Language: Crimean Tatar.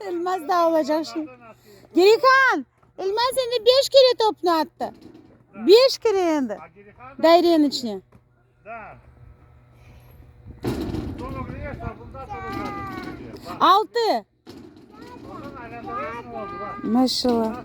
Elmaz da olacaq şimdi. Gerihan! Elmaz endi beş kere topnı attı. Beş kere endi. Dairenin içine. Altı. Maşallah.